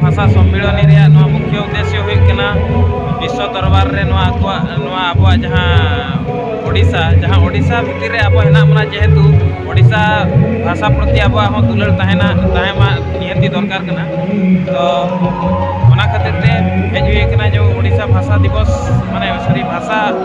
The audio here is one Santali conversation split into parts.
ᱵᱷᱟᱥᱟ ᱥᱚᱢᱢᱤᱞᱚᱱᱤ ᱨᱮᱭᱟᱜ ᱱᱚᱣᱟ ᱢᱩᱠᱷᱭᱟᱹ ᱩᱫᱮᱥᱭᱚ ᱦᱩᱭᱩᱜ ᱠᱟᱱᱟ ᱵᱤᱥᱥᱚ ᱫᱚᱨᱵᱟᱨ ᱨᱮ ᱱᱚᱣᱟ ᱟᱠᱚᱣᱟᱜ ᱱᱚᱣᱟ ᱟᱵᱚᱣᱟᱜ ᱡᱟᱦᱟᱸ ᱳᱰᱤᱥᱟ ᱡᱟᱦᱟᱸ ᱳᱰᱤᱥᱟ ᱵᱷᱤᱛᱤᱨ ᱨᱮ ᱟᱵᱚ ᱦᱮᱱᱟᱜ ᱵᱚᱱᱟ ᱡᱮᱦᱮᱛᱩ ᱳᱰᱤᱥᱟ ᱵᱷᱟᱥᱟ ᱯᱨᱚᱛᱤ ᱟᱵᱚᱣᱟᱜ ᱦᱚᱸ ᱫᱩᱞᱟᱹᱲ ᱛᱟᱦᱮᱱᱟ ᱛᱟᱦᱮᱸ ᱢᱟ ᱱᱤᱦᱟᱹᱛᱤ ᱫᱚᱨᱠᱟᱨ ᱠᱟᱱᱟ ᱛᱚ ᱚᱱᱟ ᱠᱷᱟᱹᱛᱤᱨ ᱛᱮ ᱦᱮᱡ ᱦᱩᱭ ᱠᱟᱱᱟ ᱡᱮ ᱳᱰᱤᱥᱟ ᱵᱷᱟᱥᱟ ᱫᱤᱵᱚᱥ ᱢᱟᱱᱮ ᱥᱚᱨᱤ ᱵᱷᱟᱥᱟ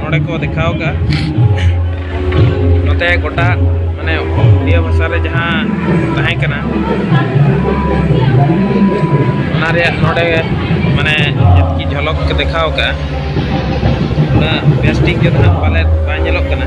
ᱱᱚᱰᱮ ᱠᱚ ᱫᱮᱠᱷᱟᱣ ᱠᱟᱜᱼᱟ ᱱᱚᱛᱮ ᱜᱚᱴᱟ ᱢᱟᱱᱮ ᱩᱲᱤᱭᱟ ᱵᱷᱟᱥᱟ ᱨᱮ ᱡᱟᱦᱟᱸ ᱛᱟᱦᱮᱸ ᱠᱟᱱᱟ ᱚᱱᱟ ᱨᱮᱭᱟᱜ ᱱᱚᱰᱮ ᱢᱟᱱᱮ ᱡᱮᱛᱠᱤ ᱡᱷᱚᱞᱚᱠ ᱠᱚ ᱫᱮᱠᱷᱟᱣ ᱠᱟᱜᱼᱟ ᱚᱱᱟ ᱵᱮᱥ ᱴᱷᱤᱠ ᱡᱚᱛᱚ ᱯᱟᱞᱮᱫ ᱵᱟᱭ ᱧᱮᱞᱚᱜ ᱠᱟᱱᱟ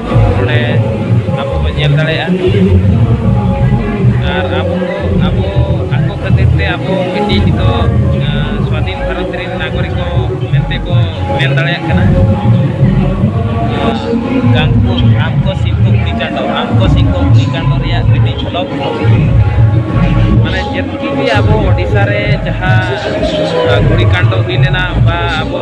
ᱱᱚᱰᱮ ᱟᱵᱚ ᱵᱚᱱ ᱧᱮᱞ ᱫᱟᱲᱮᱭᱟᱜᱼᱟ ᱟᱨ ᱟᱵᱚ ᱟᱵᱚ ᱟᱠᱚ ᱠᱷᱟᱹᱛᱤᱨ ᱛᱮ ᱟᱵᱚ ᱢᱤᱫᱴᱤᱡ ᱱᱤᱛᱚᱜ ᱥᱟᱹᱫᱷᱤᱱ ᱵᱷᱟᱨᱚᱛ ᱨᱮᱱ ᱱᱟᱜᱚᱨᱤᱠ ᱠᱚ ᱢᱮᱱᱛᱮ ᱠᱚ ᱢᱮᱱ ᱫᱟᱲᱮᱭᱟᱜ ᱠᱟᱱᱟ ᱜᱟᱝᱠᱚ ᱟᱢᱠᱚ ᱥᱤᱝᱠᱚ ᱠᱩᱲᱤ ᱪᱟᱸᱫᱚ ᱟᱢᱠᱚ ᱥᱤᱝᱠᱚ ᱠᱩᱲᱤ ᱪᱟᱸᱫᱚ ᱨᱮᱭᱟᱜ ᱢᱤᱫᱴᱤᱡ ᱡᱷᱚᱞᱚᱠ ᱢᱟᱱᱮ ᱡᱮᱛᱠᱤ ᱜᱮ ᱟᱵᱚ ᱳᱰᱤᱥᱟ ᱨᱮ ᱡᱟᱦᱟᱸ ᱜᱩᱲᱤ ᱠᱟᱱᱰᱚ ᱦᱩᱭ ᱞᱮᱱᱟ ᱵᱟ ᱟᱵᱚ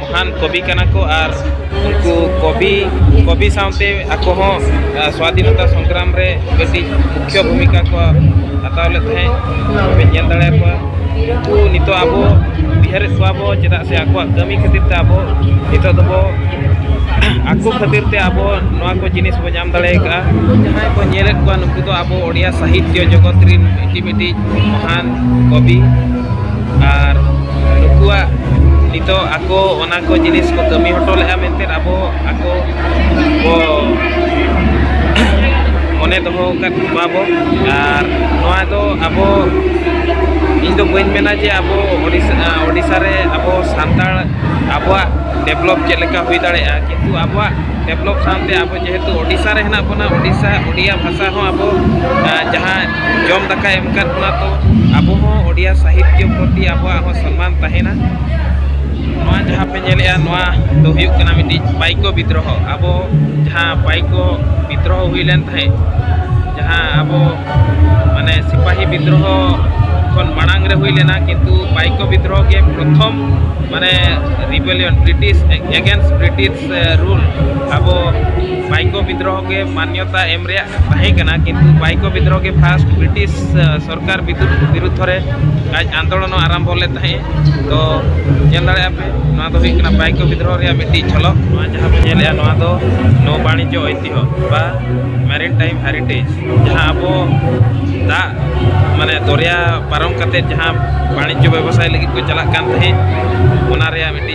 ᱢᱚᱦᱟᱱ ᱠᱚᱵᱤ ᱠᱟᱱᱟ ᱠᱚ ᱟᱨ ᱩᱱᱠᱩ ᱠᱚᱵᱤ ᱠᱚᱵᱤ ᱥᱟᱶᱛᱮ ᱟᱠᱚ ᱦᱚᱸ ᱥᱣᱟᱫᱷᱤᱱᱚᱛᱟ ᱥᱚᱝᱜᱨᱟᱢ ᱨᱮ ᱠᱟᱹᱴᱤᱡ ᱢᱩᱠᱷᱭᱚ ᱵᱷᱩᱢᱤᱠᱟ ᱠᱚ ᱦᱟᱛᱟᱣ ᱞᱮᱫ ᱛᱟᱦᱮᱸᱫ ᱛᱚᱵᱮ ᱧᱮᱞ ᱫᱟᱲᱮᱭᱟᱠᱚᱣᱟ ᱩᱱᱠᱩ ᱱᱤᱛᱚᱜ ᱟᱵᱚ ᱩᱭᱦᱟᱹᱨᱮᱫ ᱠᱚᱣᱟ ᱵᱚ ᱪᱮᱫᱟᱜ ᱥᱮ ᱟᱠᱚᱣᱟᱜ ᱠᱟᱹᱢᱤ ᱠᱷᱟᱹᱛᱤᱨ ᱛᱮ ᱟᱵᱚ ᱱᱤᱛᱚᱜ ᱫᱚᱵᱚ ᱟᱠᱚ ᱠᱷᱟᱹᱛᱤᱨ ᱛᱮ ᱟᱵᱚ ᱱᱚᱣᱟ ᱠᱚ ᱡᱤᱱᱤᱥ ᱵᱚ ᱧᱟᱢ ᱫᱟᱲᱮ ᱟᱠᱟᱫᱼᱟ ᱡᱟᱦᱟᱸᱭ ᱵᱚ ᱧᱮᱞᱮᱫ ᱠᱚᱣᱟ ᱱᱩᱠᱩ ᱫᱚ ᱟᱵᱚ ᱳᱰᱤᱭᱟ ᱥᱟᱦᱤᱛᱭᱚ ᱡᱚᱜᱚᱛ ᱨᱮᱱ ᱢᱤᱫᱴᱤᱡ ᱢᱤᱫᱴᱤᱡ ᱢᱚᱦᱟᱱ ᱠᱚᱵᱤ ᱟᱨ ᱱᱩᱠᱩᱣᱟᱜ ᱱᱤᱛᱚᱜ ᱟᱠᱚ ᱚᱱᱟ ᱠᱚ ᱡᱤᱱᱤᱥ ᱠᱚ ᱠᱟᱹᱢᱤ ᱦᱚᱴᱚ ᱞᱮᱫᱼᱟ ᱢᱮᱱᱛᱮ ᱟᱵᱚ ᱟᱠᱚ ᱠᱚ ᱢᱚᱱᱮ ᱫᱚᱦᱚ ᱟᱠᱟᱫ ᱠᱚᱣᱟ ᱵᱚ ᱟᱨ ᱱᱚᱣᱟ ᱫᱚ ᱟᱵᱚ ᱤᱧ ᱫᱚ ᱵᱟᱹᱧ ᱢᱮᱱᱟ ᱡᱮ ᱟᱵᱚ ᱳᱰᱤᱥᱟ ᱳᱰᱤᱥᱟ ᱨᱮ ᱟᱵᱚ ᱥᱟᱱᱛᱟᱲ ᱟᱵᱚᱣᱟᱜ ᱰᱮᱵᱷᱞᱚᱯ ᱪᱮᱫ ᱞᱮᱠᱟ ᱦᱩᱭ ᱫᱟᱲᱮᱭᱟᱜᱼᱟ ᱠᱤᱱᱛᱩ ᱟᱵᱚᱣᱟᱜ ᱰᱮᱵᱷᱞᱚᱯ ᱥᱟᱶᱛᱮ ᱟᱵᱚ ᱡᱮᱦᱮᱛᱩ ᱳᱰᱤᱥᱟ ᱨᱮ ᱦᱮᱱᱟᱜ ᱵᱚᱱᱟ ᱳᱰᱤᱥᱟ ᱳᱰᱤᱭᱟ ᱵᱷᱟᱥᱟ ᱦᱚᱸ ᱟᱵᱚ ᱡᱟᱦᱟᱸ ᱡᱚᱢ ᱫᱟᱠᱟ ᱮᱢ ᱠᱟᱫ ᱵᱚᱱᱟ ᱛᱚ ᱟᱵᱚ ᱦᱚᱸ ᱳᱰᱤᱭᱟ ᱥᱟᱦᱤᱛᱭᱚ ᱯᱨᱚᱛᱤ ᱟᱵᱚᱣᱟᱜ ᱦᱚᱸ ᱥᱚᱱᱢᱟᱱ ᱛᱟᱦᱮᱱᱟ ᱱᱚᱣᱟ ᱡᱟᱦᱟᱸ ᱯᱮ ᱧᱮᱞᱮᱜᱼᱟ ᱱᱚᱣᱟ ᱫᱚ ᱦᱩᱭᱩᱜ ᱠᱟᱱᱟ ᱢᱤᱫᱴᱤᱡ ᱯᱟᱭᱠᱚ ᱵᱤᱫᱽᱨᱚᱦᱚ ᱟᱵᱚ ᱡᱟᱦᱟᱸ ᱯᱟᱭᱠᱚ ᱵᱤᱫᱽᱨᱚᱦᱚ ᱦᱩᱭ ᱞᱮᱱ ᱛᱟᱦᱮᱸᱫ ᱡᱟᱦᱟᱸ ᱟᱵᱚ ᱢᱟᱱᱮ ᱥᱤᱯᱟᱦᱤ ᱵᱤᱫᱽᱨᱚᱦᱚ ᱠᱷᱚᱱ ᱢᱟᱲᱟᱝ ᱨᱮ ᱦᱩᱭ ᱞᱮᱱᱟ ᱠᱤᱱᱛᱩ ᱯᱟᱭᱠᱚ ᱵᱤᱫᱽᱨᱚᱦᱚ ᱜᱮ ᱯᱨᱚᱛᱷᱚᱢ ᱢᱟᱱᱮ rebellion British against British rule ᱟᱵᱚ ᱵᱟᱭᱠᱚ ᱵᱤᱫᱽᱨᱚᱦ ᱜᱮ ᱢᱟᱱᱭᱚᱛᱟ ᱮᱢ ᱨᱮᱭᱟᱜ ᱛᱟᱦᱮᱸ ᱠᱟᱱᱟ ᱠᱤᱱᱛᱩ ᱵᱟᱭᱠᱚ ᱵᱤᱫᱽᱨᱚᱦ ᱜᱮ ᱯᱷᱟᱥᱴ ᱵᱨᱤᱴᱤᱥ ᱥᱚᱨᱠᱟᱨ ᱵᱤᱨᱩᱫᱽᱫᱷᱚ ᱨᱮ ᱟᱡ ᱟᱱᱫᱳᱞᱚᱱ ᱟᱨᱟᱢᱵᱷᱚ ᱞᱮᱫ ᱛᱟᱦᱮᱸᱫ ᱛᱚ ᱧᱮᱞ ᱫᱟᱲᱮᱭᱟᱜᱼᱟ ᱯᱮ ᱱᱚᱣᱟ ᱫᱚ ᱦᱩᱭᱩᱜ ᱠᱟᱱᱟ ᱵᱟᱭᱠᱚ ᱵᱤᱫᱽᱨᱚᱦ ᱨᱮᱭᱟᱜ ᱢᱤᱫᱴᱤᱡ ᱡᱷᱚᱞᱚᱠ ᱱᱚᱣᱟ ᱡᱟᱦᱟᱸ ᱵᱚᱱ ᱧᱮᱞᱮᱜᱼᱟ ᱱᱚᱣᱟ ᱫᱚ ᱱᱚ ᱵᱟণᱤᱡᱽᱡᱚ ᱳᱭᱛᱤᱦᱚ ᱵᱟ ᱢᱮᱨᱤᱱ ᱴᱟᱭᱤᱢ ᱦᱮᱨᱤᱴᱮᱡᱽ ᱡᱟᱦᱟᱸ ᱟᱵᱚ ᱫᱟᱜ ᱢᱟᱱᱮ ᱫᱚᱨᱭᱟ ᱯᱟᱨᱚᱢ ᱠᱟᱛᱮ ᱡᱟᱦᱟᱸ ᱵᱟᱬᱤᱡᱽᱡᱚ ᱵᱮᱵᱚᱥᱟᱭ ᱞᱟᱹᱜᱤᱫ ᱠᱚ ᱪᱟᱞᱟᱜ ᱠᱟᱱ ᱛᱟᱦᱮᱸᱫ ᱚᱱᱟ ᱨᱮᱭᱟᱜ ᱢᱤᱫᱴᱤᱡ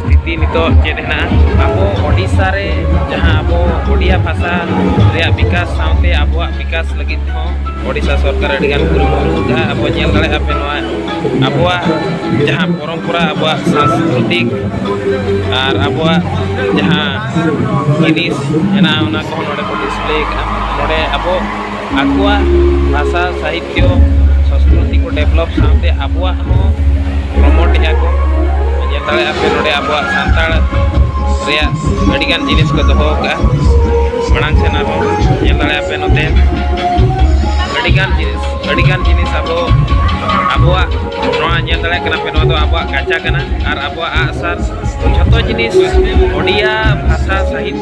ᱥᱛᱷᱤᱛᱤ ᱱᱤᱛᱚᱜ ᱪᱮᱫ ᱦᱮᱱᱟᱜᱼᱟ ᱟᱵᱚ ᱳᱰᱤᱥᱟ ᱨᱮ ᱡᱟᱦᱟᱸ ᱟᱵᱚ ᱳᱰᱤᱭᱟ ᱵᱷᱟᱥᱟ ᱨᱮᱭᱟᱜ ᱵᱤᱠᱟᱥ ᱥᱟᱶᱛᱮ ᱟᱵᱚᱣᱟᱜ ᱵᱤᱠᱟᱥ ᱞᱟᱹᱜᱤᱫ ᱦᱚᱸ ᱳᱰᱤᱥᱟ ᱥᱚᱨᱠᱟᱨ ᱟᱹᱰᱤᱜᱟᱱ ᱠᱩᱨᱩᱢᱩᱴᱩ ᱡᱟᱦᱟᱸ ᱟᱵᱚ ᱧᱮᱞ ᱫᱟᱲᱮᱭᱟᱜᱼᱟ ᱯᱮ ᱱᱚᱣᱟ ᱟᱵᱚᱣᱟᱜ ᱡᱟᱦᱟᱸ ᱯᱚᱨᱚᱢᱯᱚᱨᱟ ᱟᱵᱚᱣᱟᱜ ᱥᱟᱝᱥᱠᱨᱤᱛᱤᱠ ᱟᱨ ᱟᱵᱚᱣᱟᱜ ᱡᱟᱦᱟᱸ ᱡᱤᱱᱤᱥ ᱦᱮᱱᱟᱜᱼᱟ ᱚᱱᱟ ᱠᱚᱦᱚᱸ ᱱᱚᱰᱮ ᱠᱚ ᱰᱤᱥᱯᱞᱮ ᱟᱠᱟᱫᱼᱟ ᱱᱚᱰᱮ ᱟᱵᱚ ᱟᱠᱚᱣᱟᱜ ᱵᱷᱟᱥᱟ ᱥᱟᱦᱤᱛᱭᱚ ᱥᱚᱥᱠᱨᱤᱛᱤ ᱠᱚ ᱰᱮᱵᱷᱞᱚᱯ ᱥᱟᱶᱛᱮ ᱟᱵᱚᱣᱟᱜ ᱦᱚᱸ ᱯᱨᱚᱢᱳᱴ ᱮᱫᱟ ᱠᱚ ᱧᱮᱞ ᱫᱟᱲᱮᱭᱟᱜᱼᱟ ᱯᱮ ᱱᱚᱰᱮ ᱟᱵᱚᱣᱟᱜ ᱥᱟᱱᱛᱟᱲ ᱨᱮᱭᱟᱜ ᱟᱹᱰᱤᱜᱟᱱ ᱡᱤᱱᱤᱥ ᱠᱚ ᱫᱚᱦᱚ ᱟᱠᱟᱫᱼᱟ ᱢᱟᱲᱟᱝ ᱥᱮᱱ ᱟᱨᱦᱚᱸ ᱧᱮᱞ ᱫᱟᱲᱮᱭᱟᱜᱼᱟ ᱯᱮ ᱱᱚᱛᱮ ᱟᱹᱰᱤᱜᱟᱱ ᱡᱤᱱᱤᱥ ᱟᱹᱰᱤᱜᱟᱱ ᱡᱤᱱᱤᱥ ᱟᱵᱚ ᱟᱵᱚᱣᱟᱜ ᱱᱚᱣᱟ ᱧᱮᱞ ᱫᱟᱲᱮᱭᱟᱜ ᱠᱟᱱᱟ ᱯᱮ ᱱᱚᱣᱟ ᱫᱚ ᱟᱵᱚᱣᱟᱜ ᱜᱟᱪᱟ ᱠᱟᱱᱟ ᱟᱨ ᱟᱵᱚᱣᱟᱜ ᱟᱜᱼᱥᱟᱨ ᱡᱷᱚᱛᱚ ᱡᱤᱱᱤᱥ ᱚᱰᱤᱭᱟ ᱵᱷᱟᱥᱟ ᱥᱟᱦᱤᱛᱭᱚ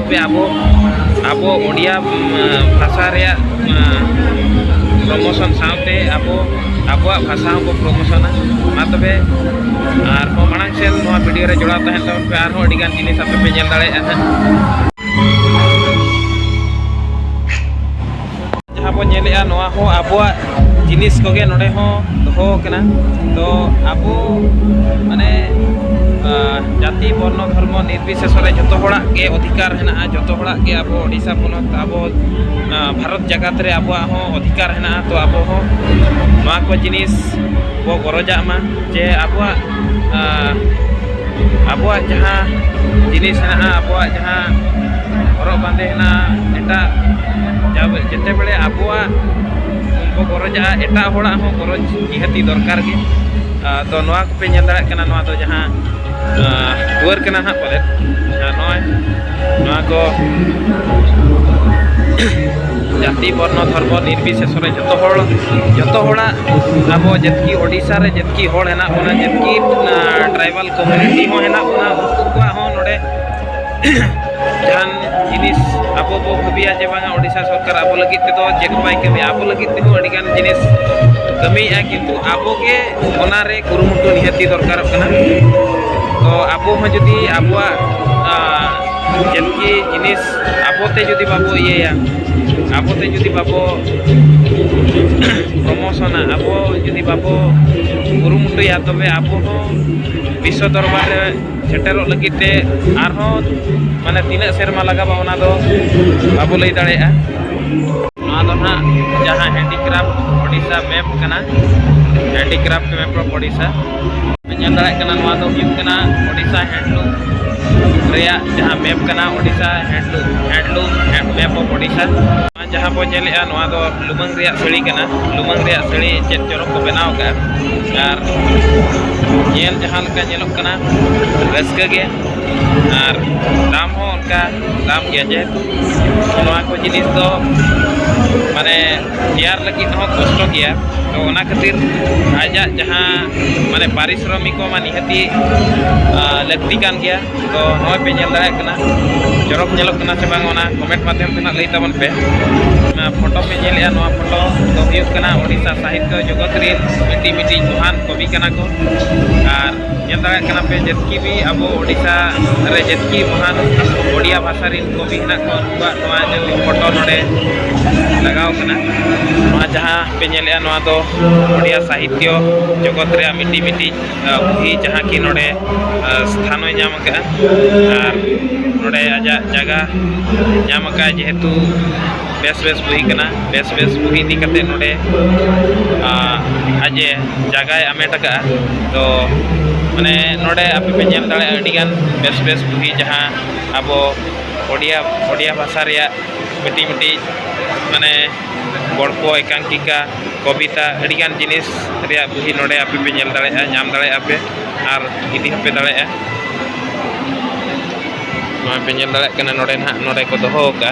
ᱟᱵᱚ ᱟᱵᱚ ᱳᱰᱤᱭᱟ ᱵᱷᱟᱥᱟ ᱨᱮᱭᱟᱜ ᱯᱨᱚᱢᱳᱥᱚᱱ ᱥᱟᱶᱛᱮ ᱟᱵᱚ ᱟᱵᱚᱣᱟᱜ ᱵᱷᱟᱥᱟ ᱦᱚᱸᱵᱚ ᱯᱨᱚᱢᱳᱥᱚᱱᱟ ᱢᱟ ᱛᱚᱵᱮ ᱟᱨ ᱦᱚᱸ ᱢᱟᱲᱟᱝ ᱥᱮᱫ ᱱᱚᱣᱟ ᱵᱷᱤᱰᱤᱭᱳ ᱨᱮ ᱡᱚᱲᱟᱣ ᱛᱟᱦᱮᱱ ᱛᱟᱵᱚᱱ ᱯᱮ ᱟᱨᱦᱚᱸ ᱟᱹᱰᱤᱜᱟᱱ ᱡᱤᱱᱤᱥ ᱟᱯᱮ ᱯᱮ ᱧᱮᱞ ᱫᱟᱲᱮᱭᱟᱜᱼᱟ ᱦᱟᱸᱜ ᱡᱟᱦᱟᱸ ᱵᱚᱱ ᱧᱮᱞᱮᱜᱼᱟ ᱱᱚᱣᱟ ᱦᱚᱸ ᱟᱵᱚᱣᱟᱜ ᱡᱤᱱᱤᱥ ᱠᱚᱜᱮ ᱱᱚᱰᱮ ᱦᱚᱸ ᱫᱚᱦᱚ ᱟᱠᱟᱱᱟ ᱛᱚ ᱟᱵᱚ ᱢᱟᱱᱮ ᱡᱟᱹᱛᱤ ᱵᱚᱨᱱᱚ ᱫᱷᱚᱨᱢᱚ ᱱᱤᱨᱵᱤᱥᱮᱥᱚ ᱨᱮ ᱡᱚᱛᱚ ᱦᱚᱲᱟᱜ ᱜᱮ ᱚᱫᱷᱤᱠᱟᱨ ᱦᱮᱱᱟᱜᱼᱟ ᱡᱚᱛᱚ ᱦᱚᱲᱟᱜ ᱜᱮ ᱟᱵᱚ ᱳᱰᱤᱥᱟ ᱯᱚᱱᱚᱛ ᱟᱵᱚ ᱵᱷᱟᱨᱚᱛ ᱡᱟᱠᱟᱛ ᱨᱮ ᱟᱵᱚᱣᱟᱜ ᱦᱚᱸ ᱚᱫᱷᱤᱠᱟᱨ ᱦᱮᱱᱟᱜᱼᱟ ᱛᱚ ᱟᱵᱚ ᱦᱚᱸ ᱱᱚᱣᱟ ᱠᱚ ᱡᱤᱱᱤᱥ ᱵᱚ ᱜᱚᱨᱚᱡᱟᱜ ᱢᱟ ᱡᱮ ᱟᱵᱚᱣᱟᱜ ᱟᱵᱚᱣᱟᱜ ᱡᱟᱦᱟᱸ ᱡᱤᱱᱤᱥ ᱦᱮᱱᱟᱜᱼᱟ ᱟᱵᱚᱣᱟᱜ ᱡᱟᱦᱟᱸ ᱦᱚᱨᱚᱜ ᱵᱟᱸᱫᱮ ᱦᱮᱱᱟᱜᱼᱟ ᱮᱴᱟᱜ ᱡᱮᱛᱮ ᱵᱮᱲᱮ ᱟᱵᱚᱣᱟᱜ ᱵᱚ ᱜᱚᱨᱚᱡᱟᱜᱼᱟ ᱮᱴᱟᱜ ᱦᱚᱲᱟᱜ ᱦᱚᱸ ᱜᱚᱨᱚᱡᱽ ᱱᱤᱦᱟᱹᱛᱤ ᱫᱚᱨᱠᱟᱨ ᱜᱮ ᱟᱫᱚ ᱱᱚᱣᱟ ᱠᱚᱯᱮ ᱧᱮᱞ ᱫᱟᱲᱮᱭᱟᱜ ᱠᱟᱱᱟ ᱱᱚᱣᱟ ᱫᱚ ᱡᱟᱦᱟᱸ ᱫᱩᱣᱟᱹᱨ ᱠᱟᱱᱟ ᱦᱟᱸᱜ ᱯᱟᱞᱮᱫ ᱱᱚᱜᱼᱚᱭ ᱱᱚᱣᱟ ᱠᱚ ᱡᱟᱹᱛᱤ ᱵᱚᱨᱱᱚ ᱫᱷᱚᱨᱢᱚ ᱱᱤᱨᱵᱤᱥᱮᱥᱚᱨᱮ ᱡᱚᱛᱚ ᱦᱚᱲ ᱡᱚᱛᱚ ᱦᱚᱲᱟᱜ ᱟᱵᱚ ᱡᱟᱹᱛᱠᱤ ᱳᱰᱤᱥᱟ ᱨᱮ ᱡᱟᱹᱛᱠᱤ ᱦᱚᱲ ᱦᱮᱱᱟᱜ ᱵᱚᱱᱟ ᱡᱟᱹᱛᱠᱤ ᱴᱨᱟᱭᱵᱟᱞ ᱠᱚᱢᱤᱭᱩᱱᱤᱴᱤ ᱦᱚᱸ ᱦᱮᱱᱟᱜ ᱵᱚᱱᱟ ᱩᱱᱠᱩ ᱠᱚᱣᱟᱜ ᱦᱚᱸ ᱱᱚᱰᱮ ᱡᱟᱦᱟᱱ ᱡᱤᱱᱤᱥ ᱟᱵᱚ ᱵᱚ ᱵᱷᱟᱹᱵᱤᱭᱟ ᱡᱮ ᱵᱟᱝᱟ ᱳᱰᱤᱥᱟ ᱥᱚᱨᱠᱟᱨ ᱟᱵᱚ ᱞᱟᱹᱜᱤᱫ ᱛᱮᱫᱚ ᱪᱮᱫ ᱵᱟᱭ ᱠᱟᱹᱢᱤᱭᱟ ᱟᱵᱚ ᱞᱟᱹᱜᱤᱫ ᱛᱮᱦᱚᱸ ᱟᱹᱰᱤᱜᱟᱱ ᱡᱤᱱᱤᱥ ᱠᱟᱹᱢᱤᱭᱮᱫᱼᱟ ᱠᱤᱱᱛᱩ ᱟᱵᱚᱜᱮ ᱚᱱᱟᱨᱮ ᱠᱩᱨᱩᱢᱩᱴᱩ ᱱᱤᱦᱟᱹᱛᱤ ᱫᱚᱨᱠᱟᱨᱚᱜ ᱠᱟᱱᱟ ᱛᱚ ᱟᱵᱚ ᱦᱚᱸ ᱡᱩᱫᱤ ᱟᱵᱚᱣᱟᱜ ᱡᱟᱹᱛᱠᱤ ᱡᱤᱱᱤᱥ ᱟᱵᱚᱛᱮ ᱡᱩᱫᱤ ᱵᱟᱵᱚ ᱤᱭᱟᱹᱭᱟ ᱟᱵᱚᱛᱮ ᱡᱩᱫᱤ ᱵᱟᱵᱚ ᱯᱨᱚᱢᱳᱥᱚᱱᱟ ᱟᱵᱚ ᱡᱩᱫᱤ ᱵᱟᱵᱚ ᱠᱩᱨᱩᱢᱩᱴᱩᱭᱟ ᱛᱚᱵᱮ ᱟᱵᱚ ᱦᱚᱸ ᱵᱤᱥᱥᱚ ᱫᱚᱨᱵᱟᱨ ᱨᱮ ᱥᱮᱴᱮᱨᱚᱜ ᱞᱟᱹᱜᱤᱫ ᱛᱮ ᱟᱨᱦᱚᱸ ᱢᱟᱱᱮ ᱛᱤᱱᱟᱹᱜ ᱥᱮᱨᱢᱟ ᱞᱟᱜᱟᱜᱼᱟ ᱚᱱᱟ ᱫᱚ ᱵᱟᱵᱚ ᱞᱟᱹᱭ ᱫᱟᱲᱮᱭᱟᱜᱼᱟ ᱱᱚᱣᱟ ᱫᱚ ᱱᱟᱦᱟᱜ ᱡᱟᱦᱟᱸ ᱦᱮᱱᱰᱤᱠᱨᱟᱯᱷᱴ ᱳᱰᱤᱥᱟ ᱢᱮᱯ ᱠᱟᱱᱟ ᱦᱮᱱᱰᱤᱠᱨᱟᱯᱷᱴ ᱢᱮᱯ ᱚᱯᱷ ᱳᱰᱤᱥᱟ ᱧᱮᱞ ᱫᱟᱲᱮᱭᱟᱜ ᱠᱟᱱᱟ ᱱᱚᱣᱟ ᱫᱚ ᱦᱩᱭᱩᱜ ᱠᱟᱱᱟ ᱳᱰᱤᱥᱟ ᱦᱮᱰᱞᱩᱢ ᱨᱮᱭᱟᱜ ᱡᱟᱦᱟᱸ ᱢᱮᱯ ᱠᱟᱱᱟ ᱳᱰᱤᱥᱟ ᱦᱮᱰᱞᱩᱢ ᱦᱮᱰᱞᱩᱢ ᱢᱮᱯ ᱚᱯᱷ ᱳᱰᱤᱥᱟ ᱡᱟᱦᱟᱸ ᱵᱚᱱ ᱧᱮᱞᱮᱜᱼᱟ ᱱᱚᱣᱟ ᱫᱚ ᱞᱩᱢᱟᱹᱝ ᱨᱮᱭᱟᱜ ᱥᱟᱹᱲᱤ ᱠᱟᱱᱟ ᱞᱩᱢᱟᱹᱝ ᱨᱮᱭᱟᱜ ᱥᱟᱹᱲᱤ ᱪᱮᱫ ᱪᱚᱨᱚᱠ ᱠᱚ ᱵᱮᱱᱟᱣ ᱟᱠᱟᱫᱼᱟ ᱟᱨ ᱧᱮᱞ ᱡᱟᱦᱟᱸ ᱞᱮᱠᱟ ᱧᱮᱞᱚᱜ ᱠᱟᱱᱟ ᱨᱟᱹᱥᱠᱟᱹ ᱜᱮ ᱟᱨ ᱫᱟᱢ ᱦᱚᱸ ᱚᱱᱠᱟ ᱫᱟᱢ ᱜᱮᱭᱟ ᱡᱮᱦᱮᱛᱩ ᱱᱚᱣᱟ ᱠᱚ ᱡᱤᱱᱤᱥ ᱫᱚ ᱢᱟᱱᱮ ᱛᱮᱭᱟᱨ ᱞᱟᱹᱜᱤᱫ ᱦᱚᱸ ᱠᱚᱥᱴᱚ ᱜᱮᱭᱟ ᱛᱚ ᱚᱱᱟ ᱠᱷᱟᱹᱛᱤᱨ ᱟᱡᱟᱜ ᱡᱟᱦᱟᱸ ᱢᱟᱱᱮ ᱯᱟᱨᱤᱥᱨᱚᱢᱤᱠ ᱠᱚ ᱢᱟ ᱱᱤᱦᱟᱹᱛᱤ ᱞᱟᱹᱠᱛᱤ ᱠᱟᱱ ᱜᱮᱭᱟ ᱛᱚ ᱱᱚᱜᱼᱚᱭ ᱯᱮ ᱧᱮᱞ ᱫᱟᱲᱮᱭᱟᱜ ᱠᱟᱱᱟ ᱪᱚᱨᱚᱠ ᱧᱮᱞᱚᱜ ᱠᱟᱱᱟ ᱥᱮ ᱵᱟᱝ ᱚᱱᱟ ᱠᱚᱢᱮᱱᱴ ᱢᱟᱫᱽᱫᱷᱚᱢ ᱛᱮ ᱱᱟᱜ ᱞᱟᱹᱭ ᱛᱟᱵᱚᱱ ᱯᱮ ᱚᱱᱟ ᱯᱷᱳᱴᱳ ᱯᱮ ᱧᱮᱞᱮᱜᱼᱟ ᱱᱚᱣᱟ ᱯᱷᱳᱴᱳ ᱫᱚ ᱦᱩᱭᱩᱜ ᱠᱟᱱᱟ ᱳᱰᱤᱥᱟ ᱥᱟᱦᱤᱛᱭᱚ ᱡᱚᱜᱚᱛ ᱨᱮᱱ ᱢᱤᱫᱴᱤᱡ ᱢᱤᱫᱴᱤᱡ ᱢᱚᱦᱟᱱ ᱠᱚᱵᱤ ᱠᱟᱱᱟ ᱠᱚ ᱟᱨ ᱧᱮᱞ ᱫᱟᱲᱮᱭᱟᱜ ᱠᱟᱱᱟ ᱯᱮ ᱡᱮᱛᱠᱤ ᱵᱤ ᱟᱵᱚ ᱳᱰᱤᱥᱟ ᱨᱮ ᱡᱮᱛᱠᱤ ᱢᱚᱦᱟᱱ ᱳᱰᱤᱭᱟ ᱵᱷᱟᱥᱟ ᱨᱮᱱ ᱠᱚᱜᱮ ᱦᱮᱱᱟᱜ ᱠᱚᱣᱟ ᱩᱱᱠᱩᱣᱟᱜ ᱱᱚᱣᱟ ᱡᱮ ᱯᱷᱳᱴᱳ ᱱᱚᱰᱮ ᱞᱟᱜᱟᱣ ᱠᱟᱱᱟ ᱱᱚᱣᱟ ᱡᱟᱦᱟᱸ ᱯᱮ ᱧᱮᱞᱮᱜᱼᱟ ᱱᱚᱣᱟ ᱫᱚ ᱳᱰᱤᱭᱟ ᱥᱟᱦᱤᱛᱭᱚ ᱡᱚᱜᱚᱛ ᱨᱮᱭᱟᱜ ᱢᱤᱫᱴᱤᱡ ᱢᱤᱫᱴᱤᱡ ᱵᱩᱦᱤ ᱡᱟᱦᱟᱸ ᱠᱤ ᱱᱚᱰᱮ ᱥᱛᱷᱟᱱᱚᱭ ᱧᱟᱢ ᱟᱠᱟᱫᱼᱟ ᱟᱨ ᱱᱚᱰᱮ ᱟᱡᱟᱜ ᱡᱟᱭᱜᱟ ᱧᱟᱢ ᱟᱠᱟᱫᱼᱟ ᱡᱮᱦᱮᱛᱩ ᱵᱮᱥ ᱵᱮᱥ ᱵᱩᱦᱤ ᱠᱟᱱᱟ ᱵᱮᱥ ᱵᱮᱥ ᱵᱩᱦᱤ ᱤᱫᱤ ᱠᱟᱛᱮ ᱱᱚᱰᱮ ᱟᱡᱮ ᱡᱟᱭᱜᱟᱭ ᱟᱢᱮᱴ ᱟᱠᱟᱫᱼᱟ ᱛᱚ ᱢᱟᱱᱮ ᱱᱚᱰᱮ ᱟᱯᱮ ᱯᱮ ᱧᱮᱞ ᱫᱟᱲᱮᱭᱟᱜᱼᱟ ᱟᱹᱰᱤᱜᱟᱱ ᱵᱮᱥ ᱵᱮᱥ ᱵᱩᱦᱤ ᱡᱟᱦᱟᱸ ᱟᱵᱚ ᱳᱰᱤᱭᱟ ᱳᱰᱤᱭᱟ ᱵᱷᱟᱥᱟ ᱨᱮᱭᱟᱜ ᱢᱤᱫᱴᱤᱡ ᱢᱤᱫᱴᱤᱡ ᱢᱟᱱᱮ ᱜᱚᱞᱯᱚ ᱮᱠᱟᱝᱠᱤᱠᱟ ᱠᱚᱵᱤᱛᱟ ᱟᱹᱰᱤ ᱜᱟᱱ ᱡᱤᱱᱤᱥ ᱨᱮᱭᱟᱜ ᱵᱩᱦᱤ ᱱᱚᱰᱮ ᱟᱯᱮ ᱯᱮ ᱧᱮᱞ ᱫᱟᱲᱮᱭᱟᱜᱼᱟ ᱧᱟᱢ ᱫᱟᱲᱮᱭᱟᱜᱼᱟ ᱯᱮ ᱟᱨ ᱤᱫᱤ ᱦᱚᱸᱯᱮ ᱫᱟᱲᱮᱭᱟᱜᱼᱟ ᱱᱚᱣᱟ ᱯᱮ ᱧᱮᱞ ᱫᱟᱲᱮᱭᱟᱜ ᱠᱟᱱᱟ ᱱᱚᱰᱮ ᱱᱟᱦᱟᱜ ᱱᱚᱰᱮ ᱠᱚ ᱫᱚᱦᱚ ᱟᱠᱟᱫᱼᱟ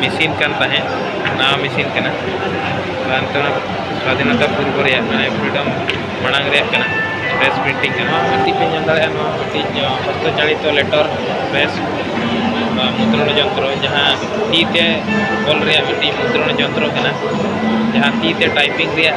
ᱢᱮᱥᱤᱱ ᱠᱟᱱ ᱛᱟᱦᱮᱸᱫ ᱱᱟᱣᱟ ᱢᱮᱥᱤᱱ ᱠᱟᱱᱟ ᱱᱤᱛᱚᱜ ᱥᱟᱫᱷᱤᱱᱚᱛᱟ ᱯᱩᱨᱵᱚ ᱨᱮᱭᱟᱜ ᱢᱟᱱᱮ ᱯᱷᱨᱤᱰᱚᱢ ᱢᱟᱲᱟᱝ ᱨᱮᱭᱟᱜ ᱠᱟᱱᱟ ᱯᱨᱮᱥ ᱯᱨᱤᱱᱴᱤᱝ ᱠᱟᱱᱟ ᱢᱤᱫᱴᱤᱡ ᱯᱮ ᱧᱮᱞ ᱫᱟᱲᱮᱭᱟᱜᱼᱟ ᱱᱚᱣᱟ ᱢᱤᱫᱴᱤᱡ ᱦᱚᱥᱛᱚ ᱪᱟᱲᱤᱛᱚ ᱞᱮᱴᱚᱨ ᱯᱨᱮᱥ ᱢᱩᱫᱽᱨᱚᱱ ᱡᱚᱱᱛᱨᱚ ᱡᱟᱦᱟᱸ ᱛᱤ ᱛᱮ ᱚᱞ ᱨᱮᱭᱟᱜ ᱢᱤᱫᱴᱤᱡ ᱢᱩᱫᱽᱨᱚᱱ ᱡᱚᱱᱛᱨᱚ ᱠᱟᱱᱟ ᱡᱟᱦᱟᱸ ᱛᱤ ᱛᱮ ᱴᱟᱭᱯᱤᱝ ᱨᱮᱭᱟᱜ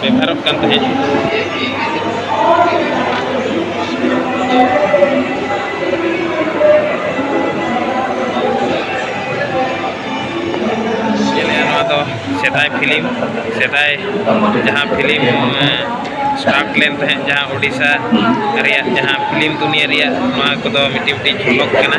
ᱵᱮᱵᱷᱟᱨᱚᱜ ᱠᱟᱱ ᱛᱟᱦᱮᱸᱫ ᱥᱮᱫᱟᱭ ᱯᱷᱤᱞᱢ ᱥᱮᱫᱟᱭ ᱡᱟᱦᱟᱸ ᱯᱷᱤᱞᱢ ᱥᱴᱟᱨᱴ ᱞᱮᱱ ᱛᱟᱦᱮᱸᱫ ᱡᱟᱦᱟᱸ ᱳᱰᱤᱥᱟ ᱨᱮᱭᱟᱜ ᱡᱟᱦᱟᱸ ᱯᱷᱤᱞᱢ ᱫᱩᱱᱤᱭᱟᱹ ᱨᱮᱭᱟᱜ ᱱᱚᱣᱟ ᱠᱚᱫᱚ ᱢᱤᱫᱴᱤᱡ ᱢᱤᱫᱴᱤᱡ ᱡᱷᱚᱞᱚᱠ ᱠᱟᱱᱟ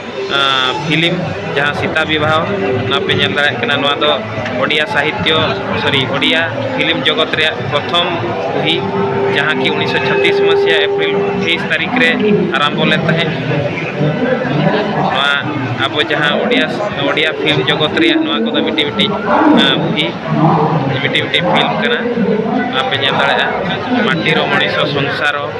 ᱯᱷᱤᱞᱤᱢ ᱡᱟᱦᱟᱸ ᱥᱤᱛᱟ ᱵᱤᱵᱟᱦᱚ ᱚᱱᱟ ᱯᱮ ᱧᱮᱞ ᱫᱟᱲᱮᱭᱟᱜ ᱠᱟᱱᱟ ᱱᱚᱣᱟ ᱫᱚ ᱳᱰᱤᱭᱟ ᱥᱟᱦᱤᱛᱭᱚ ᱥᱚᱨᱤ ᱳᱰᱤᱭᱟ ᱯᱷᱤᱞᱤᱢ ᱡᱚᱜᱚᱛ ᱨᱮᱭᱟᱜ ᱯᱨᱚᱛᱷᱚᱢ ᱵᱩᱦᱤ ᱡᱟᱦᱟᱸ ᱠᱤ ᱩᱱᱤᱥᱥᱚ ᱪᱷᱟᱛᱛᱤᱥ ᱢᱟᱹᱥᱤᱭᱟ ᱮᱯᱨᱤᱞ ᱛᱮᱭᱤᱥ ᱛᱟᱹᱨᱤᱠᱷ ᱨᱮ ᱟᱨᱟᱢᱵᱷᱚ ᱞᱮᱱ ᱛᱟᱦᱮᱸᱫ ᱱᱚᱣᱟ ᱟᱵᱚ ᱡᱟᱦᱟᱸ ᱳᱰᱤᱭᱟ ᱳᱰᱤᱭᱟ ᱯᱷᱤᱞᱢ ᱡᱚᱜᱚᱛ ᱨᱮᱭᱟᱜ ᱱᱚᱣᱟ ᱠᱚᱫᱚ ᱢᱤᱫᱴᱤᱡ ᱢᱤᱫᱴᱤᱡ ᱵᱩᱦᱤ ᱢᱤᱫᱴᱤᱡ ᱢᱤᱫᱴᱤᱡ ᱯᱷᱤᱞᱢ ᱠᱟᱱᱟ ᱚᱱᱟ ᱯᱮ ᱧᱮᱞ ᱫᱟᱲᱮᱭᱟᱜᱼᱟ ᱢᱟᱴᱤᱨᱚ ᱢᱚᱱᱤᱥᱚ ᱥᱚᱝᱥᱟᱨᱚ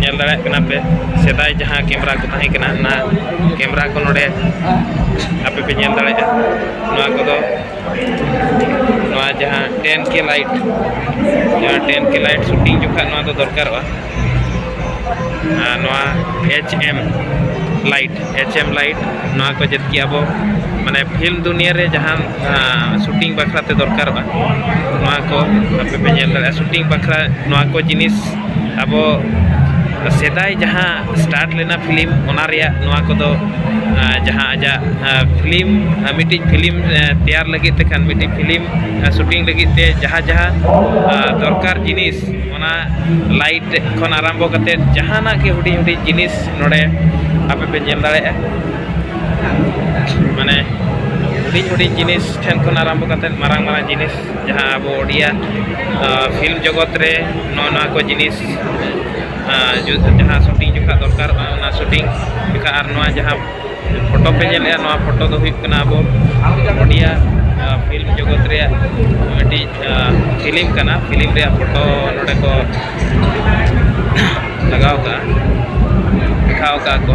ᱧᱮᱞ ᱫᱟᱲᱮᱭᱟᱜ ᱠᱟᱱᱟ ᱯᱮ ᱥᱮᱫᱟᱭ ᱡᱟᱦᱟᱸ ᱠᱮᱢᱮᱨᱟ ᱠᱚ ᱛᱟᱦᱮᱸ ᱠᱟᱱᱟ ᱚᱱᱟ ᱠᱮᱢᱮᱨᱟ ᱠᱚ ᱱᱚᱰᱮ ᱟᱯᱮ ᱯᱮ ᱧᱮᱞ ᱫᱟᱲᱮᱭᱟᱜᱼᱟ ᱱᱚᱣᱟ ᱠᱚᱫᱚ ᱱᱚᱣᱟ ᱡᱟᱦᱟᱸ ᱴᱮᱱ ᱠᱮ ᱞᱟᱭᱤᱴ ᱡᱟᱦᱟᱸ ᱴᱮᱱ ᱠᱮ ᱞᱟᱭᱤᱴ ᱥᱩᱴᱤᱝ ᱡᱚᱠᱷᱟᱡ ᱱᱚᱣᱟ ᱫᱚ ᱫᱚᱨᱠᱟᱨᱚᱜᱼᱟ ᱟᱨ ᱱᱚᱣᱟ H M light H M light ᱱᱚᱣᱟ ᱠᱚ ᱡᱮᱛᱠᱤ ᱟᱵᱚ ᱢᱟᱱᱮ ᱯᱷᱤᱞᱢ ᱫᱩᱱᱤᱭᱟᱹ ᱨᱮ ᱡᱟᱦᱟᱸ ᱥᱩᱴᱤᱝ ᱵᱟᱠᱷᱨᱟ ᱛᱮ ᱫᱚᱨᱠᱟᱨᱚᱜᱼᱟ ᱱᱚᱣᱟ ᱠᱚ ᱟᱯᱮ ᱯᱮ ᱧᱮᱞ ᱫᱟᱲᱮᱭᱟᱜᱼᱟ ᱥᱩᱴᱤᱝ ᱵᱟᱠᱷᱨᱟ ᱱᱚᱣᱟ ᱠᱚ ᱡᱤᱱᱤᱥ ᱟᱵᱚ ᱥᱮᱫᱟᱭ ᱡᱟᱦᱟᱸ ᱥᱴᱟᱨᱴ ᱞᱮᱱᱟ ᱯᱷᱤᱞᱢ ᱚᱱᱟ ᱨᱮᱭᱟᱜ ᱱᱚᱣᱟ ᱠᱚᱫᱚ ᱡᱟᱦᱟᱸ ᱟᱡᱟᱜ ᱯᱷᱤᱞᱢ ᱢᱤᱫᱴᱤᱡ ᱯᱷᱤᱞᱢ ᱛᱮᱭᱟᱨ ᱞᱟᱹᱜᱤᱫ ᱛᱮᱠᱷᱟᱱ ᱢᱤᱫᱴᱤᱡ ᱯᱷᱤᱞᱢ ᱥᱩᱴᱤᱝ ᱞᱟᱹᱜᱤᱫ ᱛᱮ ᱡᱟᱦᱟᱸ ᱡᱟᱦᱟᱸ ᱫᱚᱨᱠᱟᱨ ᱡᱤᱱᱤᱥ ᱚᱱᱟ ᱞᱟᱭᱤᱴ ᱠᱷᱚᱱ ᱟᱨᱟᱢᱵᱷᱚ ᱠᱟᱛᱮ ᱡᱟᱦᱟᱱᱟᱜ ᱜᱮ ᱦᱩᱰᱤᱧ ᱦᱩᱰᱤᱧ ᱡᱤᱱᱤᱥ ᱱᱚᱰᱮ ᱟᱯᱮ ᱯᱮ ᱧᱮᱞ ᱫᱟᱲᱮᱭᱟᱜᱼᱟ ᱢᱟᱱᱮ ᱦᱩᱰᱤᱧ ᱦᱩᱰᱤᱧ ᱡᱤᱱᱤᱥ ᱴᱷᱮᱱ ᱠᱷᱚᱱ ᱟᱨᱟᱢᱵᱷᱚ ᱠᱟᱛᱮ ᱢᱟᱨᱟᱝ ᱢᱟᱨᱟᱝ ᱡᱤᱱᱤᱥ ᱡᱟᱦᱟᱸ ᱟᱵᱚ ᱳᱰᱤᱭᱟ ᱯᱷᱤᱞᱢ ᱡᱚᱜᱚᱛ ᱨᱮ ᱱᱚᱣᱟ ᱱᱚᱣᱟ ᱠᱚ ᱡᱤᱱᱤᱥ ᱡᱟᱦᱟᱸ ᱥᱩᱴᱤᱝ ᱡᱚᱠᱷᱟᱡ ᱫᱚᱨᱠᱟᱨᱚᱜᱼᱟ ᱚᱱᱟ ᱥᱩᱴᱤᱝ ᱡᱚᱠᱷᱟᱡ ᱟᱨ ᱱᱚᱣᱟ ᱡᱟᱦᱟᱸ ᱯᱷᱳᱴᱳ ᱯᱮ ᱧᱮᱞᱮᱫᱼᱟ ᱱᱚᱣᱟ ᱯᱷᱳᱴᱳ ᱫᱚ ᱦᱩᱭᱩᱜ ᱠᱟᱱᱟ ᱟᱵᱚ ᱳᱰᱤᱭᱟ ᱯᱷᱤᱞᱢ ᱡᱚᱜᱚᱛ ᱨᱮᱭᱟᱜ ᱢᱤᱫᱴᱤᱡ ᱯᱷᱤᱞᱢ ᱠᱟᱱᱟ ᱯᱷᱤᱞᱢ ᱨᱮᱭᱟᱜ ᱯᱷᱳᱴᱳ ᱱᱚᱰᱮ ᱠᱚ ᱞᱟᱜᱟᱣ ᱠᱟᱜᱼᱟ ᱫᱮᱠᱷᱟᱣ ᱠᱟᱜᱼᱟ ᱠᱚ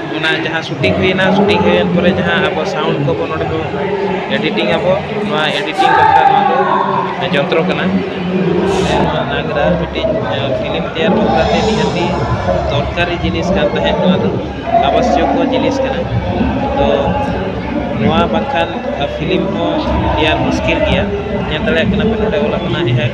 ᱚᱱᱟ ᱡᱟᱦᱟᱸ ᱥᱩᱴᱤᱝ ᱦᱩᱭᱱᱟ ᱥᱩᱴᱤᱝ ᱦᱩᱭᱮᱱ ᱯᱚᱨᱮ ᱡᱟᱦᱟᱸ ᱟᱵᱚ ᱥᱟᱣᱩᱱᱰ ᱠᱚᱵᱚ ᱱᱚᱰᱮ ᱵᱚ ᱮᱰᱤᱴᱤᱝ ᱟᱵᱚ ᱱᱚᱣᱟ ᱮᱰᱤᱴᱤᱝ ᱵᱟᱠᱷᱨᱟ ᱱᱚᱣᱟ ᱫᱚ ᱡᱚᱱᱛᱨᱚ ᱠᱟᱱᱟ ᱱᱚᱣᱟ ᱱᱟᱜᱽᱨᱟ ᱢᱤᱫᱴᱤᱡ ᱯᱷᱤᱞᱤᱢ ᱛᱮᱭᱟᱨ ᱵᱟᱠᱷᱨᱟ ᱛᱮ ᱱᱤᱦᱟᱹᱛᱤ ᱫᱚᱨᱠᱟᱨᱤ ᱡᱤᱱᱤᱥ ᱠᱟᱱ ᱛᱟᱦᱮᱸᱫ ᱱᱚᱣᱟ ᱫᱚ ᱟᱵᱚᱥᱥᱚᱠᱚ ᱡᱤᱱᱤᱥ ᱠᱟᱱᱟ ᱛᱚ ᱱᱚᱣᱟ ᱵᱟᱝᱠᱷᱟᱱ ᱯᱷᱤᱞᱤᱢ ᱦᱚᱸ ᱛᱮᱭᱟᱨ ᱢᱩᱥᱠᱤᱞ ᱜᱮᱭᱟ ᱧᱮᱞ ᱫᱟᱲᱮᱭᱟᱜ ᱠᱟᱱᱟ ᱯᱮ ᱱᱚᱰᱮ ᱚᱞ ᱟᱠᱟᱱᱟ ᱮᱦᱮᱠ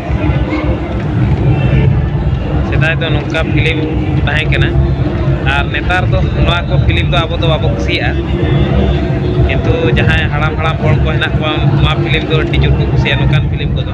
ᱥᱮᱫᱟᱭ ᱫᱚ ᱱᱚᱝᱠᱟ ᱯᱷᱤᱞᱤᱢ ᱛᱟᱦᱮᱸ ᱠᱟᱱᱟ ᱟᱨ ᱱᱮᱛᱟᱨ ᱫᱚ ᱱᱚᱣᱟ ᱠᱚ ᱯᱷᱤᱞᱤᱢ ᱫᱚ ᱟᱵᱚ ᱫᱚ ᱵᱟᱵᱚ ᱠᱩᱥᱤᱭᱟᱜᱼᱟ ᱠᱤᱱᱛᱩ ᱡᱟᱦᱟᱸᱭ ᱦᱟᱲᱟᱢ ᱦᱟᱲᱟᱢ ᱦᱚᱲ ᱠᱚ ᱦᱮᱱᱟᱜ ᱠᱚᱣᱟ ᱱᱚᱣᱟ ᱯᱷᱤᱞᱤᱢ ᱫᱚ ᱟᱹᱰᱤ ᱡᱳᱨ ᱠᱚ ᱠᱩᱥᱤᱭᱟᱜᱼᱟ ᱱᱚᱝᱠᱟᱱ ᱯᱷᱤᱞᱤᱢ ᱠᱚᱫᱚ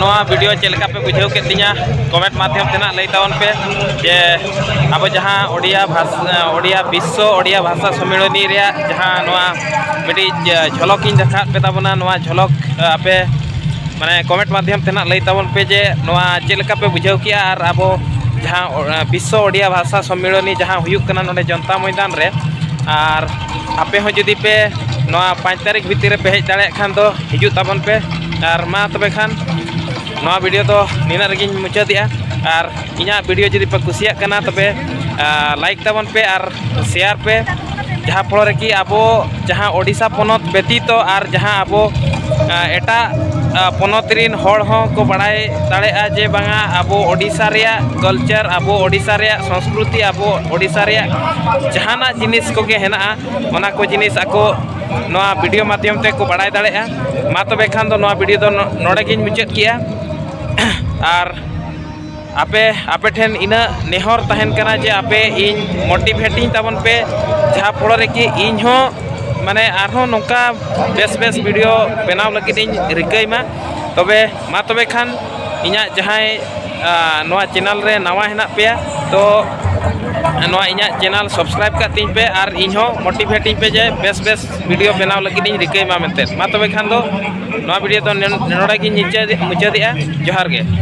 ᱱᱚᱣᱟ ᱵᱷᱤᱰᱤᱭᱳ ᱪᱮᱫ ᱞᱮᱠᱟ ᱯᱮ ᱵᱩᱡᱷᱟᱹᱣ ᱠᱮᱫ ᱛᱤᱧᱟ ᱠᱚᱢᱮᱱᱴ ᱢᱟᱫᱽᱫᱷᱚᱢ ᱛᱮ ᱱᱟᱜ ᱞᱟᱹᱭ ᱛᱟᱵᱚᱱ ᱯᱮ ᱡᱮ ᱟᱵᱚ ᱡᱟᱦᱟᱸ ᱳᱰᱤᱭᱟ ᱵᱷᱟᱥᱟ ᱳᱰᱤᱭᱟ ᱵᱤᱥᱥᱚ ᱳᱰᱤᱭᱟ ᱵᱷᱟᱥᱟ ᱥᱚᱢᱢᱮᱞᱚᱱᱤ ᱨᱮᱭᱟᱜ ᱡᱟᱦᱟᱸ ᱱᱚᱣᱟ ᱢᱤᱫᱴᱤᱡ ᱡᱷᱚᱞᱚᱠ ᱤᱧ ᱫᱮᱠᱷᱟᱣ ᱯᱮ ᱛᱟᱵᱚᱱᱟ ᱱᱚᱣᱟ ᱡᱷᱚᱞᱚᱠ ᱟᱯᱮ ᱢᱟᱱᱮ ᱠᱚᱢᱮᱱᱴ ᱢᱟᱫᱽᱫᱷᱚᱢ ᱛᱮ ᱱᱟᱜ ᱞᱟᱹᱭ ᱛᱟᱵᱚᱱ ᱯᱮ ᱡᱮ ᱱᱚᱣᱟ ᱪᱮᱫ ᱞᱮᱠᱟ ᱯᱮ ᱵᱩᱡᱷᱟᱹᱣ ᱠᱮᱜᱼᱟ ᱟᱨ ᱟᱵᱚ ᱡᱟᱦᱟᱸ ᱵᱤᱥᱥᱚ ᱳᱰᱤᱭᱟ ᱵᱷᱟᱥᱟ ᱥᱚᱢᱢᱮᱞᱚᱱᱤ ᱡᱟᱦᱟᱸ ᱦᱩᱭᱩᱜ ᱠᱟᱱᱟ ᱱᱚᱰᱮ ᱡᱚᱱᱛᱟ ᱢᱚᱭᱫᱟᱱ ᱨᱮ ᱟᱨ ᱟᱯᱮ ᱦᱚᱸ ᱡᱩᱫᱤ ᱯᱮ ᱱᱚᱣᱟ ᱯᱟᱸᱪ ᱛᱟᱹᱨᱤᱠᱷ ᱵᱷᱤᱛᱤᱨ ᱨᱮ ᱯᱮ ᱦᱮᱡ ᱫᱟᱲᱮᱭᱟᱜ ᱠᱷᱟᱱ ᱫᱚ ᱦᱤᱡᱩᱜ ᱛᱟᱵᱚᱱ ᱯᱮ ᱟᱨ ᱢᱟ ᱛᱚᱵᱮ ᱠᱷᱟᱱ ᱱᱚᱣᱟ ᱵᱷᱤᱰᱤᱭᱳ ᱫᱚ ᱱᱤᱱᱟᱹᱜ ᱨᱮᱜᱮᱧ ᱢᱩᱪᱟᱹᱫᱮᱜᱼᱟ ᱟᱨ ᱤᱧᱟᱹᱜ ᱵᱷᱤᱰᱤᱭᱳ ᱡᱩᱫᱤ ᱯᱮ ᱠᱩᱥᱤᱭᱟᱜ ᱠᱟᱱᱟ ᱛᱚᱵᱮ ᱞᱟᱭᱤᱠ ᱛᱟᱵᱚᱱ ᱯᱮ ᱟᱨ ᱥᱮᱭᱟᱨ ᱯᱮ ᱡᱟᱦᱟᱸ ᱯᱷᱚᱞᱚ ᱨᱮ ᱠᱤ ᱟᱵᱚ ᱡᱟᱦᱟᱸ ᱳᱰᱤᱥᱟ ᱯᱚᱱᱚᱛ ᱵᱮᱛᱤᱛᱚ ᱟᱨ ᱡᱟᱦᱟᱸ ᱟᱵᱚ ᱮᱴᱟᱜ ᱯᱚᱱᱚᱛ ᱨᱮᱱ ᱦᱚᱲ ᱦᱚᱸ ᱠᱚ ᱵᱟᱲᱟᱭ ᱫᱟᱲᱮᱭᱟᱜᱼᱟ ᱡᱮ ᱵᱟᱝᱟ ᱟᱵᱚ ᱳᱰᱤᱥᱟ ᱨᱮᱭᱟᱜ ᱠᱟᱞᱪᱟᱨ ᱟᱵᱚ ᱳᱰᱤᱥᱟ ᱨᱮᱭᱟᱜ ᱥᱚᱝᱥᱠᱨᱤᱛᱤ ᱟᱵᱚ ᱳᱰᱤᱥᱟ ᱨᱮᱭᱟᱜ ᱡᱟᱦᱟᱱᱟᱜ ᱡᱤᱱᱤᱥ ᱠᱚᱜᱮ ᱦᱮᱱᱟᱜᱼᱟ ᱚᱱᱟ ᱠᱚ ᱡᱤᱱᱤᱥ ᱟᱠᱚ ᱱᱚᱣᱟ ᱵᱷᱤᱰᱤᱭᱳ ᱢᱟᱫᱽᱫᱷᱚᱢ ᱛᱮ ᱠᱚ ᱵᱟᱲᱟᱭ ᱫᱟᱲᱮᱭᱟᱜᱼᱟ ᱢᱟ ᱛᱚᱵᱮ ᱠᱷᱟᱱ ᱫᱚ ᱱᱚᱣᱟ ᱵᱷᱤᱰᱤᱭᱳ ᱫᱚ ᱱᱚᱰᱮ ᱜᱤᱧ ᱢᱩᱪᱟᱹᱫ ᱠᱮᱫᱼᱟ ᱟᱨ ᱟᱯᱮ ᱟᱯᱮ ᱴᱷᱮᱱ ᱤᱱᱟᱹ ᱱᱮᱦᱚᱨ ᱛᱟᱦᱮᱱ ᱠᱟᱱᱟ ᱡᱮ ᱟᱯᱮ ᱤᱧ ᱢᱳᱴᱤᱵᱷᱮᱴ ᱤᱧ ᱛᱟᱵᱚᱱ ᱯᱮ ᱡᱟᱦᱟᱸ ᱯᱷᱚᱲᱚ ᱨᱮ ᱠᱤ ᱤᱧ ᱦᱚᱸ ᱢᱟᱱᱮ ᱟᱨᱦᱚᱸ ᱱᱚᱝᱠᱟ ᱵᱮᱥ ᱵᱮᱥ ᱵᱷᱤᱰᱤᱭᱳ ᱵᱮᱱᱟᱣ ᱞᱟᱹᱜᱤᱫ ᱤᱧ ᱨᱤᱠᱟᱹᱭ ᱢᱟ ᱛᱚᱵᱮ ᱢᱟ ᱛᱚᱵᱮ ᱠᱷᱟᱱ ᱤᱧᱟᱹᱜ ᱡᱟᱦᱟᱸᱭ ᱱᱚᱣᱟ ᱪᱮᱱᱮᱞ ᱨᱮ ᱱᱟᱣᱟ ᱦᱮᱱᱟᱜ ᱯᱮᱭᱟ ᱛᱚ ᱱᱚᱣᱟ ᱤᱧᱟᱹᱜ ᱪᱮᱱᱮᱞ ᱥᱟᱵᱥᱠᱨᱟᱭᱤᱵ ᱠᱟᱜ ᱛᱤᱧ ᱯᱮ ᱟᱨ ᱤᱧ ᱦᱚᱸ ᱢᱳᱴᱤᱵᱷᱮᱴ ᱤᱧ ᱯᱮ ᱡᱮ ᱵᱮᱥ ᱵᱮᱥ ᱵᱷᱤᱰᱤᱭᱳ ᱵᱮᱱᱟᱣ ᱞᱟᱹᱜᱤᱫ ᱤᱧ ᱨᱤᱠᱟᱹᱭ ᱢᱟ ᱢᱮᱱᱛᱮ ᱢᱟ ᱛᱚᱵᱮ ᱠᱷᱟᱱ ᱫᱚ ᱱᱚᱣᱟ ᱵᱷᱤᱰᱤᱭᱳ ᱫᱚ ᱱᱚᱰᱮ ᱜᱤᱧ ᱢᱩᱪᱟᱹᱫᱮᱜᱼᱟ ᱡᱚᱦᱟᱨ ᱜᱮ